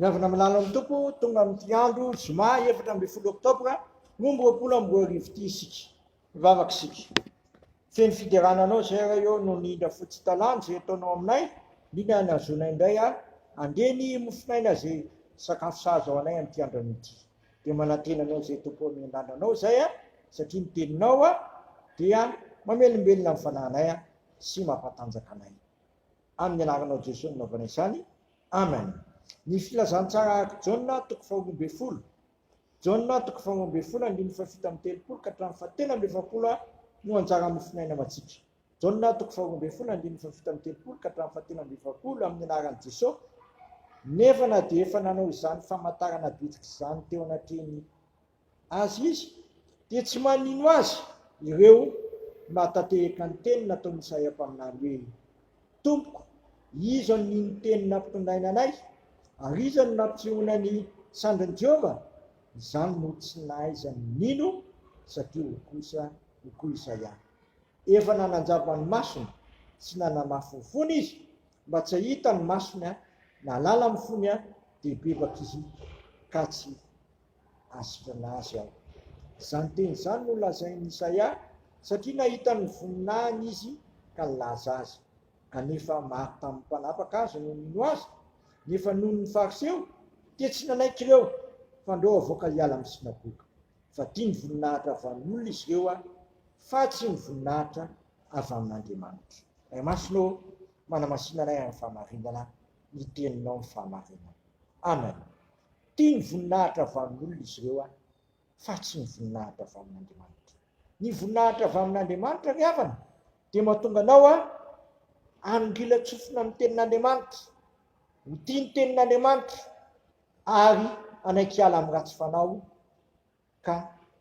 Ny avy naminany amin'ny Tompo, tonga amin'ity andro zoma efatra ambin'ny folo oktobra roa amby roapolo amby roa arivo ity isika, mivavaka isika. Feno fiderana anao izay Ray ô, noho ny indra fotsy talan izay ataonao aminay, indrindra ny hahazoanay indray handre ny mofon'aina izay sakafo sahaza ho anay amin'ity andrano ity. Dia manantena anao izay Tompo ô, miandrandra anao izay satria ny teninao dia mamelombelona ny fanahinay sy mampatanjaka anay. Amin'ny anaranao Jeso no naovana izany Amen. Ny filazantsara araka Jaona toko faharoa ambin'ny folo Jaona toko faharoa ambin'ny folo andininy fahafito amby telopolo ka hatramin'ny fahatelo amby efapolo no anjara amin'ny finoaina matsitra Jaona toko faharoa ambin'ny folo andininy fahafito amby telopolo ka hatramin'ny fahatelo amby efapolo amin'ny anaran'i Jeso nefa na dia efa nanao izany famantarana bitika izany teo anatrehan'ny Azy izy, dia tsy manino azy ireo mahatanteheka ny teny nataon'i Isaia mpaminany hoe, Tompoko, iza no nino teny nampitondraina anay? ary iza no nampitsehoana ny sandrin'i Jehovah? Izany no tsy nahaizany nino, satria hoy kosa, hoy koa Isaia, Efa nananjava ny masony sy nanamafy ny fony izy, mba tsy hahita ny masony, nahalala ny fony, dia bebaka izy ka tsy Asitranà azy aho. Izany teny izany no lazain'i Isaia, satria nahita ny voninahiny izy ka nilaza azy. Kanefa maro tamin'ny mpanapaka aza no nino azy, nefa noho ny Fariseo, dia tsy nanaiky ireo, fa ndreo avoaka hiala amin'ny synagoga. Fa tia ny voninahitra avy amin'olona izy ireo, fa tsy ny voninahitra avy amin'Andriamanitra. Ray Masina ô, manamasina anay amin'ny fahamarinana, ny Teninao ny fahamarinana. Amen. Tia ny voninahitra avy amin'olona izy ireo an, fa tsy ny voninahitra avy amin'Andriamanitra. Ny voninahitra avy amin'Andriamanitra ry havana dia mahatonga anao an, hanongilan-tsofina amin'ny Tenin'Andriamanitra, ho tia ny Tenin'Andriamanitra ary hanaiky hiala amin'ny ratsy fanao ka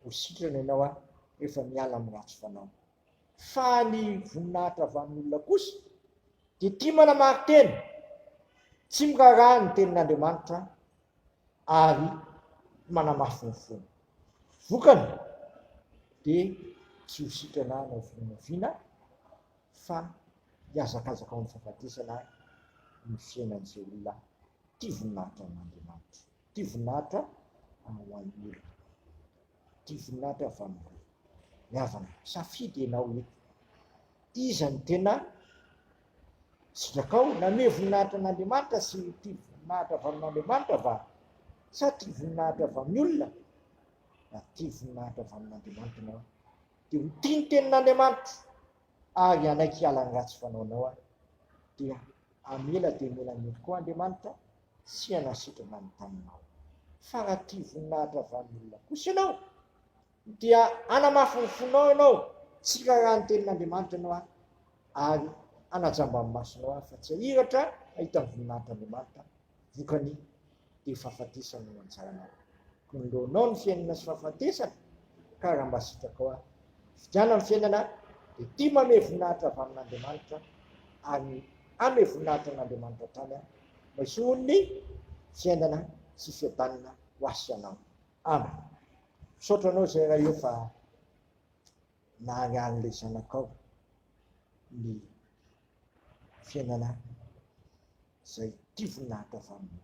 ho sitrana ianao an rehefa miala amin'ny ratsy fanao. Fa ny voninahitra avy amin'olona kosa dia tia manamari-tena, tsy miraharaha ny tenin'Andriamanitra ary manamafy ny fony. Vokany dia tsy ho sitrana hanao vinavina fa hihazakazaka ao amin'ny fahafatesana ny fiainan'izay olona tia voninahitra an'Andriamanitra. Ity vinahitra ho an'ny olona. Ity vinahitra avy amin'ny rohy. Ny havana. Safidy ianao eto. Iza ny tena sitrakao? Nanome voninahitra an'Andriamanitra sy ity voninahitra avy amin'Andriamanitra va? Sa ity voninahitra avy amin'ny olona? Na ity voninahitra avy amin'Andriamanitra ianao. Dia ho tia ny tenin'Andriamanitra ary hanaiky hiala ny ratsy fanaonao aho. Dia hamela dia hamela ny olona koa Andriamanitra. Tsy hiala sitrana ny taninao. Fa raha tia voninahitra avy amin'ny olona kosa ianao, dia hanamafy ny fonao ianao, tsy hiraharaha ny tenin'Andriamanitra ianao, ary hanajamba ny masonao aho, fa tsy hahiratra hahita ny voninahitr'Andriamanitra, vokany, dia fahafatesana no anjaranao. Kiniloanao ny fiainana sy fahafatesana, ka raha mba sitrakao aho, fidiana ny fiainana, dia tia manome voninahitra avy amin'Andriamanitra, ary hanome voninahitra an'Andriamanitra hatrany aho. Maisoa olona e! Fiainana sy fiadanana ho asy anao. Amen. Misaotra anao zay Ray ô fa nahariharin'ilay zanakao ny fiainana zay tia voninahitra avy aminy.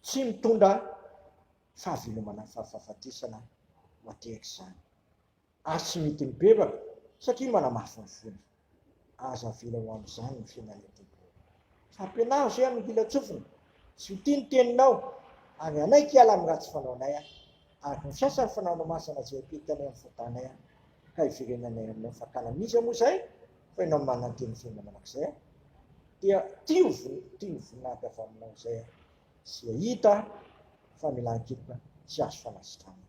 Tsy mitondra fahavelomana fa fahafatesana ho atehaka izany. ary tsy mety mibebaka satria manamafy ny fony. Aza avela ho amin'izany ny fiainan'i Adebo. Fampianaro izay amin'ny hilan-tsofina. Tsy ho tia ny teninao, ary hanaiky hiala amin'ny ratsy fanaonay aho, araka ny fiasan'ny fanaonao masina izay apetanay amin'ny fotanay aho, ka hiverenanay aminao. Fa tamin'iza moa izay fa ianao no manana ny teny fiainana mandrakizay aho? Dia tia ho voninahitra avy aminao izay aho, sy hahita famelan-keloka tsy azo fanasitranana.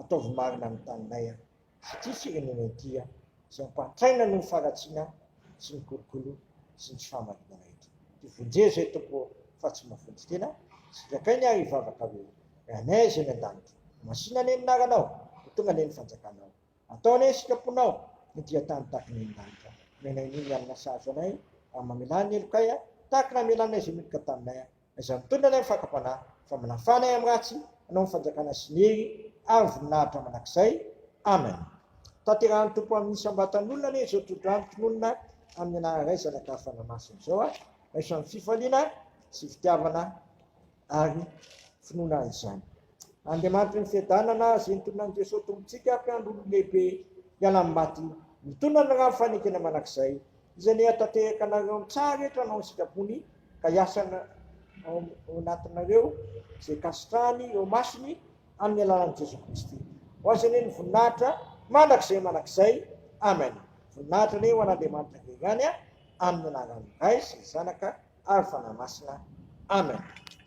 ataovy marina ny taninay an! sy ity firenena ity an! izay ampahantraina noho ny faharatsiana sy ny kolokolo sy ny tsy fahamarinana eto. Dia vonjeo izay Tompo ô! fa tsy mahavonjy tena sy dia akainy ary hivavaka hoe, Ry Anay izay any an-danitra, masina anie ny naranao, ho tonga anie ny fanjakanao, atao anie ny sitraponao ny dia tany tahaka ny eny lanitra, omenay ny ny alina sahaza anay, ary mamelà ny helokay an! tahaka ny namelanay izay meloka taminay an! Izany mitondra anay amin'ny fakam-panahy fa mila fanahy amin'ny ratsy hanao ny fanjakana sy ny hery ary voninahitra mandrakizay. Amen. Tanterahan'ny Tompo amin'ny isam-batan'olona anie izao tohodrano tononina amin'ny anaran'ny Ray, Zanaka ary Fanahy Masina izao a! Raiso amin'ny fifaliana sy fitiavana ary finoana izany. Andriamanitry ny fiadanana, izay nitonona an'i Jesoa Tompontsika, Mpiandry olon-dehibe hiala amin'ny maty, mitondra ny rano fanekena mandrakizay, Izay nihatatehaka anareo ny tsara eto hanao ny sitrapony ka hiasa ao anatinareo izay kasitrahany eo masony amin'ny alalan'i Jesoa Kristy. Ho Azy anie ny voninahitra mandrakizay mandrakizay. Amen. Voninahitra anie ho an'Andriamanitra Ray ihany amin'ny anaran'ny Ray sy ny Zanaka ary Fanahy Masina. Amen.